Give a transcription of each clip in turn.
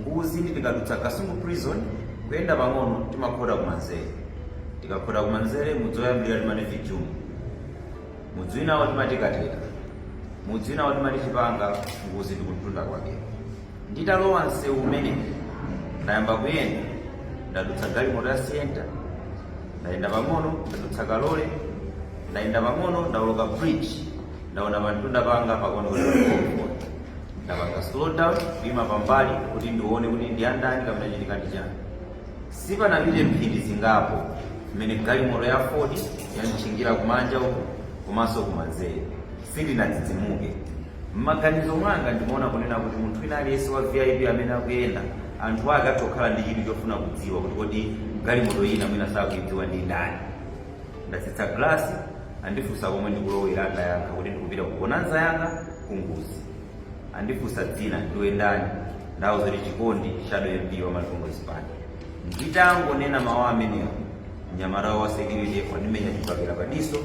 nguzi ndi tikadutsa kasungu prison kuyenda pang'ono timakhota kumanzere tikakhota kumanzere mudzi woyambirira timati vijumu mudzi winawo timati katera mudzi winawo timati chipanga nguzi ndi kumtunda kwake nditalowa msewu umene ndayamba kuyenda ndadutsa galimoto ya sienta ndayenda pang'ono ndadutsa kalole ndayenda pang'ono ndawoloka bridge ndaona pamtunda panga pa convoy ndapanga slow down kuima pambali kuti ndione kuti ndi andani kapena chitika ndi chani sipanapite mphindi zingapo mmene galimoto ya ford yanditchingira kumanja uku komanso kumanzere sindinadzidzimuke mmaganizo mwanga ndimaona kunena kuti munthu wina aliyense wa vip amene akuyenda anthu ake atokhala ndi chidwi chofuna kudziwa kuti kodi galimoto ina mwina sakuidziwa ndi ndani ndatsitsa glasi Andifunsa komwe ndikulowera ndayankha kuti ndikupita ku bonanza yanga ku Nguzi. Andifunsa dzina ndiwe ndani ndawauza kuti Chikondi Shadow MP wa Malawi Congress Party. Nditangonena mawu amenewo mnyamata wa security wandimenya chibakera pa diso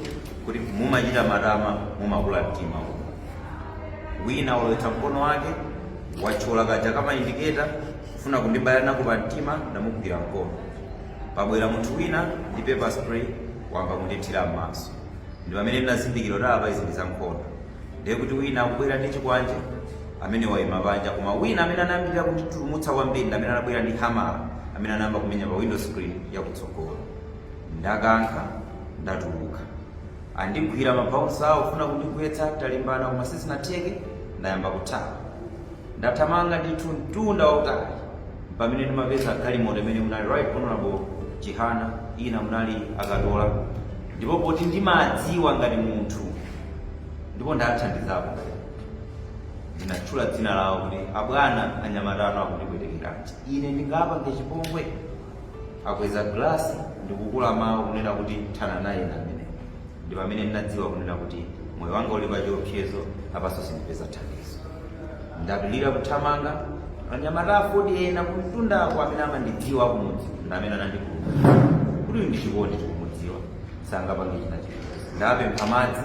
kuti mumachita matama mumakula mtima uku. Wina walowetsa mkono wake watchola kaja kamaindiketa kufuna kundibaya nako pa mtima ndamugwira mkono. Pabwera munthu wina ndi pepper spray wamba kundithira m'maso. Ndi pamene ndinazindikira kuti apa izi ndi za nkhondo. Ndiye kuti wina akubwera ndi chikwanje, amene waima panja, koma wina amene anayambirira kunditutumutsa kwambiri ndi amene anabwera ndi hamala, amene anayamba kumenya pa window screen yakutsogolo. Ndakankha, ndatuluka. Andigwira mabouncer awo kufuna kundigwetsa, talimbana koma sizinatheke, ndayamba kuthawa. Ndathamanga ndithu mtunda wautali Mpamene ndimapeza galimoto imene munali Right Honourable Chihana, ina munali a Katola ndipo poti ndimadziwa ngati munthu ndipo ndathandizapo ndinatchula dzina lawo kuti abwana anyamata anu akundipwetekeranji ine ndingapange chipongwe? Akweza glass ndikukuwa mawu kunena kuti thana nayeni amene. Ndi pamene ndinadziwa kunena kuti moyo wanga uli pachiopsezo apaso sindipeza thandizo. Ndapilira kuthamanga, anyamata a Aford ena kumtundako amene amandidziwa akumudzi ndi amene anandipulumutsa. Kuti uyu ndi Chikondi tikumudziwa sangapange china chilichonse. Ndawapempha madzi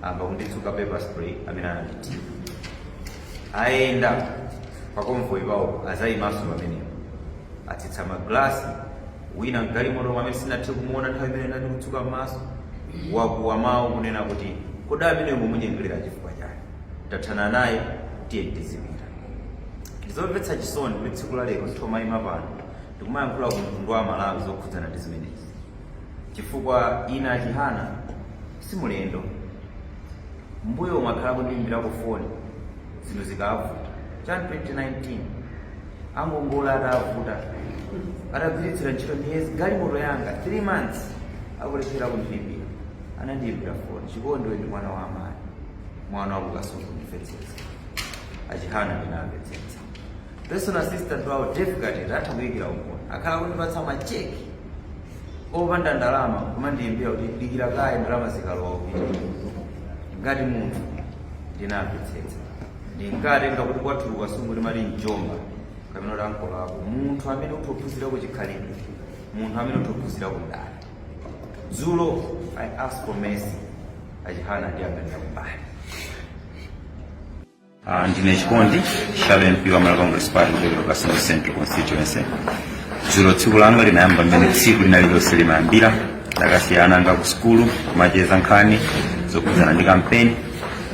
amba kunditsuka pepper spray amene anandithira. Ayenda pa convoy pawo azayimaso pamenepo. Atsitsa ma glass wina mgalimotomo amene sinathe kumuona nthawi imene ndinali kutsuka m'maso wakuwa mawu kunena kuti kodi amene mumunyengelera chifukwa chani tathana naye tiye tizipita ndizomvetsa chisoni kuti tsiku la lero nthomayima pano ndikumayankhula ku mtundu wa malawi zokhudzana ndi zimenezi chifukwa ine a chihana si mlendo mbuyomu akhala akundiyimbirako foni zinthu zikavuta Jan 2019 angongola atavuta atagwiritsira ntchito miyezi galimoto yanga 3 months akulephera kundilipira anandiyimbira foni chikondi ndi mwana wa amayi mwana wakukasungu ndimvetsetse a Chihana ndinamvetsetsa personal assistant wawo Gift atha kuikira umboni akhala kundipatsa macheki opanda ndalama kumandiyimbira kuti dikira kaye ndalama zikalowa upite ngati munthu ndinamvetsetsa ndimkatenga kuti kwathu ku Kasungu timati mjomba kapena kuti ankolo ako munthu amene utha kuphunzirako chikhalidwe munthu amene utha kuphunzirako ndale dzulo i ask for mercy a Chihana anayang'anira kumbali Uh, ndine chikondi Chisale MP wa malawi congress party kuchokera ku kasungu central constituency dzulo tsiku langa linayamba mmene tsiku lina lililonse limayambira ndakasiya ana anga ku sukulu kumacheza nkhani zokhudzana ndi kampeni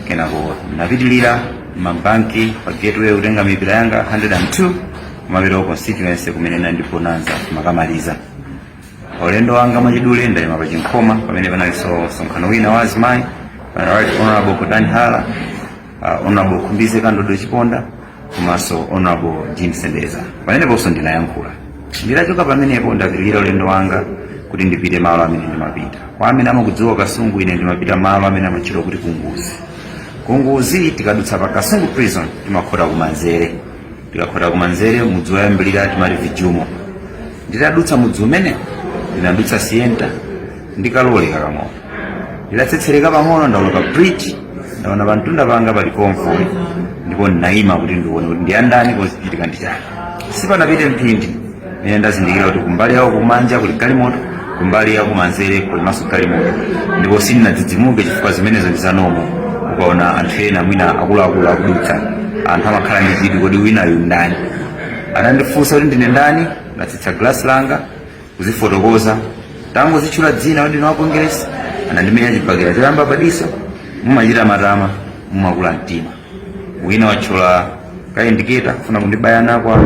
kenako ndinapitirira ma banki pa gateway kutenga mipira yanga 102 kumapita ku constituency kumene ndinali ndi bonanza kumakamaliza Ulendo wanga mwachidule ndayima pa Chinkhoma pamene panalinso msonkhano wina wa azimayi uh, right honorable Gotani Hara uh, honorable Khumbize Kandodo Chiponda komanso honorable Jean Sendeza pameneponso ndinayankhula nditachoka pamenepo ndapitirira ulendo wanga kuti ndipite malo amene ndimapita kwa amene amakudziwa kasungu ine ndimapita malo amene amatchedwa kuti kunguzi kunguzi tikadutsa pa kasungu prison timakhota kumanzere tikakhota kumanzere mudzi woyambirira timati vijumo nditadutsa mudzi umene ndinadutsa sienta ndi ka lole kakang'ono ndidatsetsereka pang'ono ndaona pa bridge ndaona pamtunda panga pali convoy ndipo ndinayima kuti ndione kuti ndi ya ndani komanso zichitika ndi chani sipanapite mphindi ine ndazindikira kuti kumbali yawo kumanja kuli galimoto kumbali yawo kumanzere kulinso galimoto ndipo sindinadzidzimuke chifukwa zimenezo ndi za normal ukaona anthu ena mwina akuluakulu akudutsa anthu amakhala ndi chidwi kodi winayu ndani anandifunsa kuti ndine ndani ndatsitsa glasi langa kuzifotokoza ntangozitchula dzina kuti ndine wa kongeresi anandimenya chibakera choyamba padiso mumachita matama mumakula mtima wina wathyola ka indicator kufuna kundibaya nako apa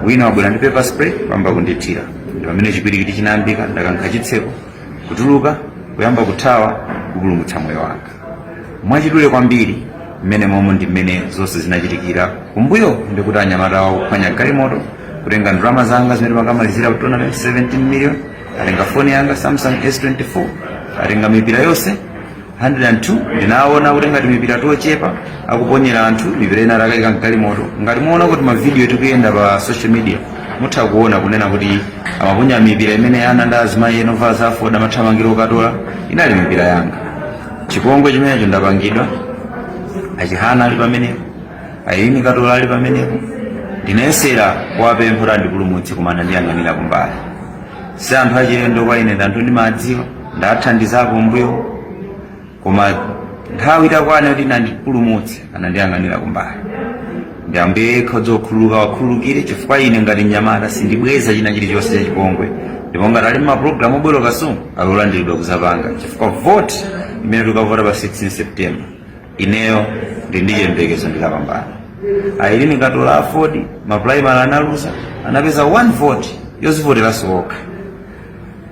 wina wabwera ndi pepper spray kuyamba kundithira ndi pamene chipwirikiti chinayambika ndakankha chitseko kutuluka kuyamba kuthawa kupulumutsa moyo wanga mwachidule kwambiri mmenemomo ndi mmene zonse zinachitikira kumbuyo ndikuti anyamata awo akuphwanya galimoto kutenga ndalama zanga zimene ndimakamalizira ku tournament 17 million atenga foni yanga samsung s24 atenga mipira yonse 102 ndinaona kuti angati mipira tochepa akuponyera anthu mipira ina atakaika mgalimoto ngati mwaona kuti mavidiyo akuyenda pa social media mutha kuona kunena kuti amaponya mipira imene ana ndi azimayi ena ovala za Aford amathamangira okatola inali mipira yanga chipongwe chimenecho ndapangidwa a Chihana ali pamenepo Ayilini Katola ali pamenepo ndinayesera kuwapempha kuti andipulumutse koma anandiyang'anira kumbali si anthu achilendo kwa ine ndi anthu ndimawadziwa ndawathandizako mmbuyo koma nthawi itakwana kuti andipulumutse anandiyang'anira kumbali ndi ambuye yekha odziwa kukhululuka awakhululukire chifukwa ine ngati mnyamata sindibweza china chilichonse cha chipongwe ndipo ngati ali mapulogalamu obwera Kasungu akulandiridwa kudzapanga chifukwa voti imene tikavota pa 16 september ineyo ndi ndi chiyembekezo ndikapambana Ayilini Katola Aford mapulaimali analuza anapeza 1 vote yodzivoteranso okha